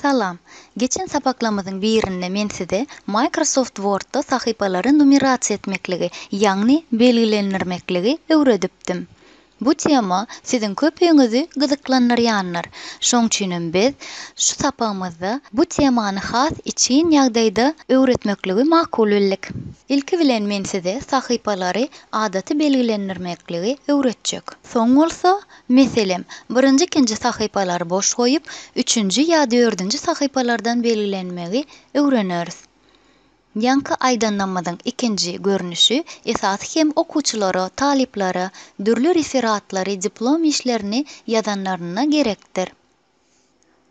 Salam. Geçen sapaklamyzyň birinde men size Microsoft Word-da sahypalary numerasiýa etmekligi, ýagny belgilendirmekligi öwredipdim. Bu tema siziň köpüňizi gyzyklandyrýandyr, şoň üçinem biz şu sapagymyzda bu temany has içgin ýagdaýda öwretmekligi makul bildik. Ilki bilen men size sahypalary adaty belgilendirmekligi öwretjek. Soň bolsa, meselem, birinji-ikinji sahypalary boş goýup, üçünji ýa dördünji sahypalardan belgilenmegi öwreneris. Ýaňky aýdan namazyň ikinji görnüşi esasy hem okuwçylara, talyplara dürli referatlary, diplom işlerini ýazanlarynda gerekdir.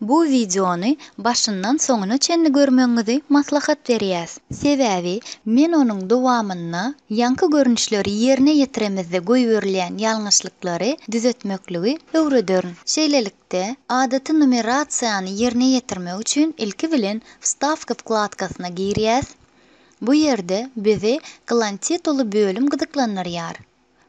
Bu wideony başyndan soňuna çenli görmegiňizi maslahat berýäs. Sebäbi men onuň dowamynda ýaňky görnüşleri ýerine ýetiremizde goýberilýän ýalňyşlyklary düzetmekligi öwrederin. Şeýlelik Bilelikde, adaty numerasiýany ýerine ýetirmek üçin ilki bilen Wstawka wkladkasyna girýäs. Bu ýerde bizi Klan tituly bölüm gyzyklandyrýar.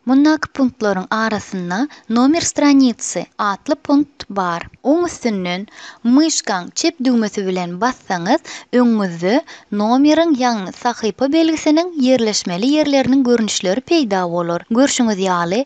Mundaky punktlaryň arasynda Nomer stranitsy atly punkt bar. Oň üstünden myşkaň çep düwmesi bilen bassaňyz, öňüňizde nomeriň ýagny sahypa belgisiniň ýerleşmeli ýerleriniň görnüşleri peýda bolar. Görşüňiz ýaly,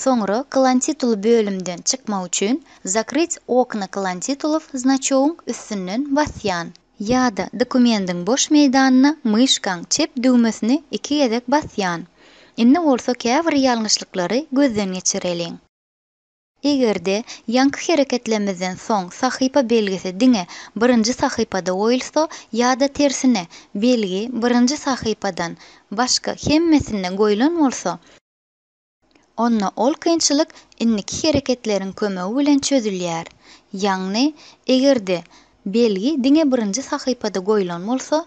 Soňra kylantituly bölümden çykmak üçin Zakryt okna kylantitulov znaçogyň üstünden basýan. Ýa-da dokumendiň boş meýdanyna myşkaň çep düwmesini iki gezek basýan. Indi bolsa käbir ýalňyşlyklary gözden geçireliň. Eger-de ýaňky hereketlemizden soň sahypa belgisi diňe birinji sahypada goýulsa ýa-da tersine, belgi birinji sahypadan başga hemmesinde goýlan bolsa, onda ol kynçylyk indiki hereketleriň kömegi bilen çözülýär. Ýagny, eger-de belgi diňe birinji sahypada goýlan bolsa,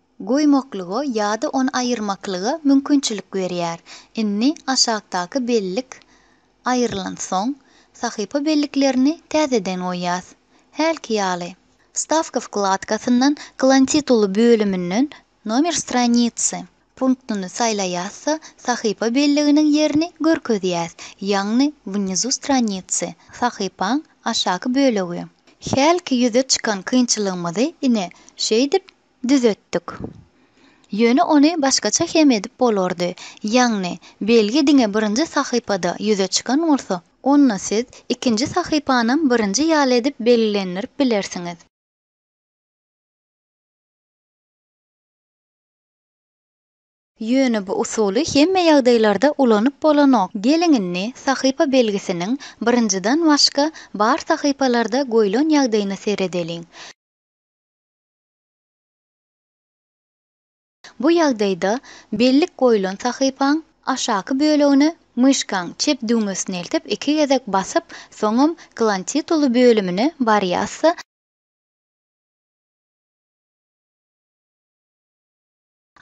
goýmaklyga ýa-da ony aýyrmaklyga mümkinçilik berýär. Indi aşakdaky bellik aýrylansoň, sahypa belliklerini täzeden goýýas. Hälki ýaly. Wstawka wkladkasyndan Klantituly bölüminden Nomer stranicy punktyny saýlaýas-da, sahypa belliginiň ýerini görkezýäs, ýagny Wnizu stranicy, sahypaň aşaky bölegi. Hälki ýüze çykan kynçylygymyzy ine, şeýdip, Düzetdik. Ýöne ony başgaça hem edip bolardy. Ýagny, belgi diňe birinji sahypada ýüze çykan bolsa, onda siz ikinji sahypanam birinji ýaly edip belgilendirip bilersiňiz. Ýöne bu usuly hemme ýagdaýlarda ulanyp bolanok. Geliň indi sahypa belgisiniň birinjiden başga bar sahypalarda goýlan ýagdaýyna seredeliň. Bu ýagdaýda bellik goýlan sahypaň aşaky bölegine myşkaň çep düwmesini eltip iki gezek basyp, soňam Klan tituly bölümine barýasda,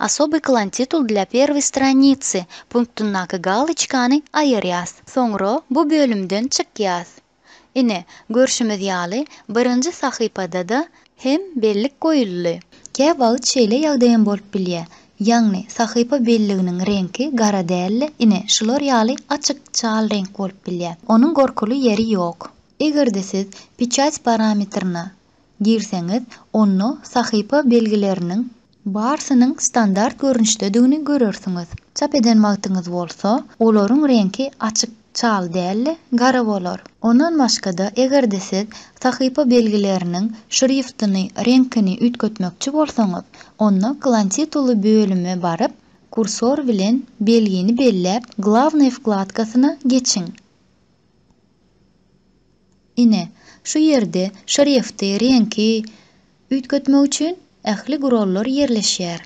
Osoby klantitul dla perwıy stranitsi punktyndaky galoçkany aýyrýas. Soňra bu bölümden çykýas. Ine, görşümiz ýaly, birinji sahypada-da hem bellik goýuldy. Kä wagt şeýle ýagdaýam bolup bilýär, ýagny sahypa belliginiň reňki gara däl-de, ine, şular ýaly açyk çal reňk bolup bilýär. Onuň gorkuly ýeri ýok. Eger-de siz Peçat parametrine girseňiz, onda sahypa belgileriniň barsynyň standart görnüşdedigini görersiňiz. Çap eden wagtyňyz bolsa, olaryň reňki açyk çal däl-de, gara bolar. Ondan başga-da, eger-de siz sahypa belgileriniň şriftyny, reňkini üýtgetmekçi bolsaňyz, onda Klan-tituly bölüme baryp, kursor bilen belgini belläp, Glawnaý wkladkasyna geçiň. Ine, şu ýerde şrifti, reňki üýtgetmek üçin ähli gurallar ýerleşýär.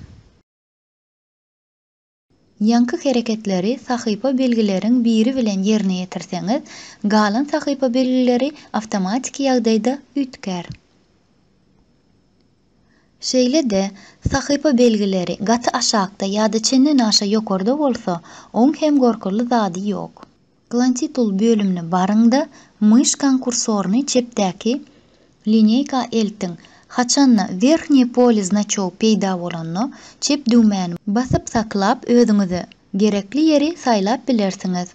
Ýaňky hereketleri sahypa belgileriň biri bilen ýerine ýetirseňiz, galan sahypa belgileri awtomatiki ýagdaýda üýtgär. Şeýle-de, sahypa belgileri gaty aşakda ýa-da çendenaşa ýokarda bolsa, oň hem gorkuly zady ýok. Klantitul bölümine baryň-da, myşkaň kursoryny çepdäki lineýka eltiň. Haçanda Werhnýe pole znaçogy peýda bolanda, çep düwmäni basyp saklap özüňize gerekli ýeri saýlap bilersiňiz.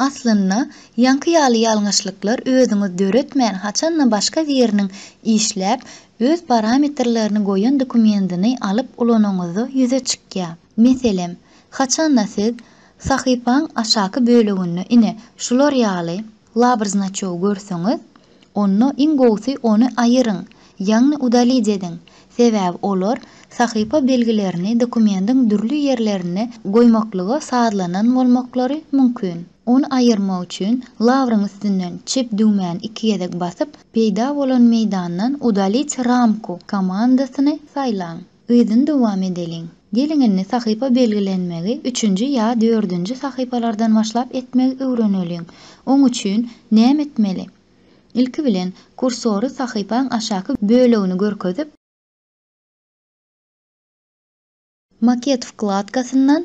Aslynda, ýaňky ýaly ýalňyşlyklar özüňiz döretmän haçanda başga biriniň işläp, öz parametrlerini goýan dokumendini alyp ulanyňyzda ýüze çykýar. Meselem, haçanda siz sahypaň aşaky böleginde ine, şular ýaly labrznaçogy görseňiz, onda iň gowusy ony aýyryň, ýagny udalid ediň, sebäbi olar sahypa belgilerini dokumendiň dürli ýerlerinde goýmaklyga sazlanan bolmaklary mümkin. Ony aýyrmak üçin labryň üstünden çep düwmäni iki gezek basyp, peýda bolan meýdandan Udalить рамку komandasyny saýlaň. Yzyny dowam edeliň. Geliň indi sahypa belgilenmegi üçünji ýa dördünji sahypalardan başlap etmegi öwreneliň. Oň üçin näme etmeli? Ilki bilen, kursory sahypaň aşaky bölegini görkezip, Maket wkladkasyndan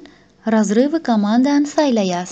Razrywy komandany saýlaýas.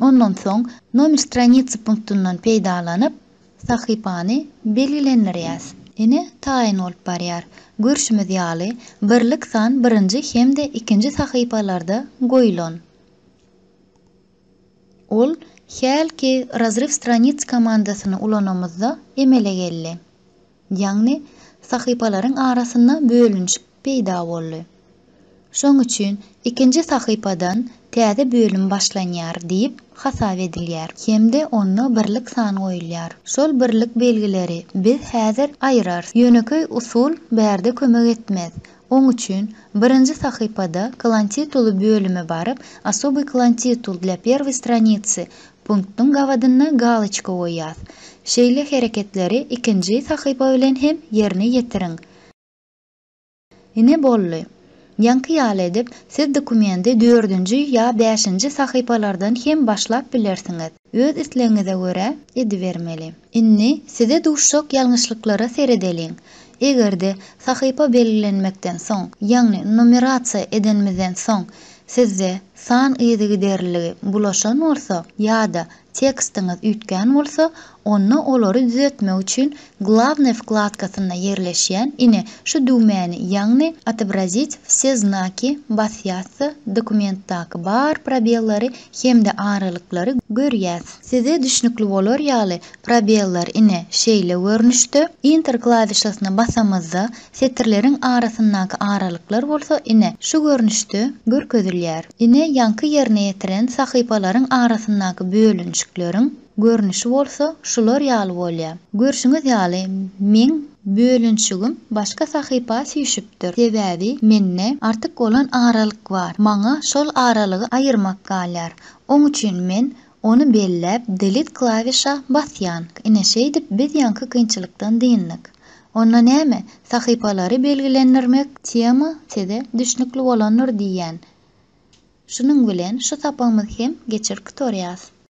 Ondan soň Nomer stranicy punktundan peýdalanyp, sahypany belgilendirýäs. Ine, taýyn bolup barýar. Görşümiz ýaly, birlik san birinji hem-de ikinji sahypalarda goýlan. Ol hälki Razryw stranicy komandasyny ulanamyzda emele geldi. Ýagny sahypalaryň arasynda bölünişik peýda boldy. Şoň üçin ikinji sahypadan täze bölüm başlanýar diýip hasap edilýär hem-de onda birlik san goýulýar. Şol birlik belgileri biz häzir aýyrarys. Ýönekeý usul bärde kömek etmez. Oň üçin, birinji sahypada Klan tituly bölüme baryp, Osobyý klan titul dla perwoý stranitsy punktyň gabadyna galoçka goýýas. Şeýle hereketleri ikinji sahypa bilen hem ýerine ýetiriň. Ine, boldy. Ýaňky ýaly edip, siz dokumendi dördünji ýa bäşinji sahypalardan hem başlap bilersiňiz. Öz islegiňize görä edibermeli. Indi size duşjak ýalňyşlyklara seredeliň. Eger-de sahypa belgilenmekden soň, ýagny numerasiýa edenimizden soň sizde san yzygiderliligi bulaşan bolsa ýa-da tekstiňiz üýtgän bolsa, onda olary düzetmek üçin Главное wkladkasynda ýerleşýän, ine, şu düwmäni, ýagny Otobrazić wse znaki basýasda dokumentdaky bar probellary hem-de aralyklary görýäs. Size düşnükli bolar ýaly, probellar, ine, şeýle görnüşde, Enter klawişasyna basamyzda, setirleriň arasyndaky aralyklar bolsa, ine, şu görnüşde görkezilýär. Ine, ýaňky ýerine ýetiren sahypalaryň arasyndaky bölünişikleriň, Görnüşi bolsa şular ýaly bolýa. Görşüňiz ýaly meň bölünşigim başga sahypa süýşüpdir. Sebäbi mende artyk bolan aralyk bar. Maňa şol aralygy aýyrmak galýar. Oň üçin men ony belläp delete klawişa basýan. Ine şeýdip biz ýaňky kynçylykdan dyndyk. Onda näme? Sahypalary belgilendirmek tema size düşnükli bolandyr diýýän. Şunuň bilen şu sapagymyz hem geçir qutorýas.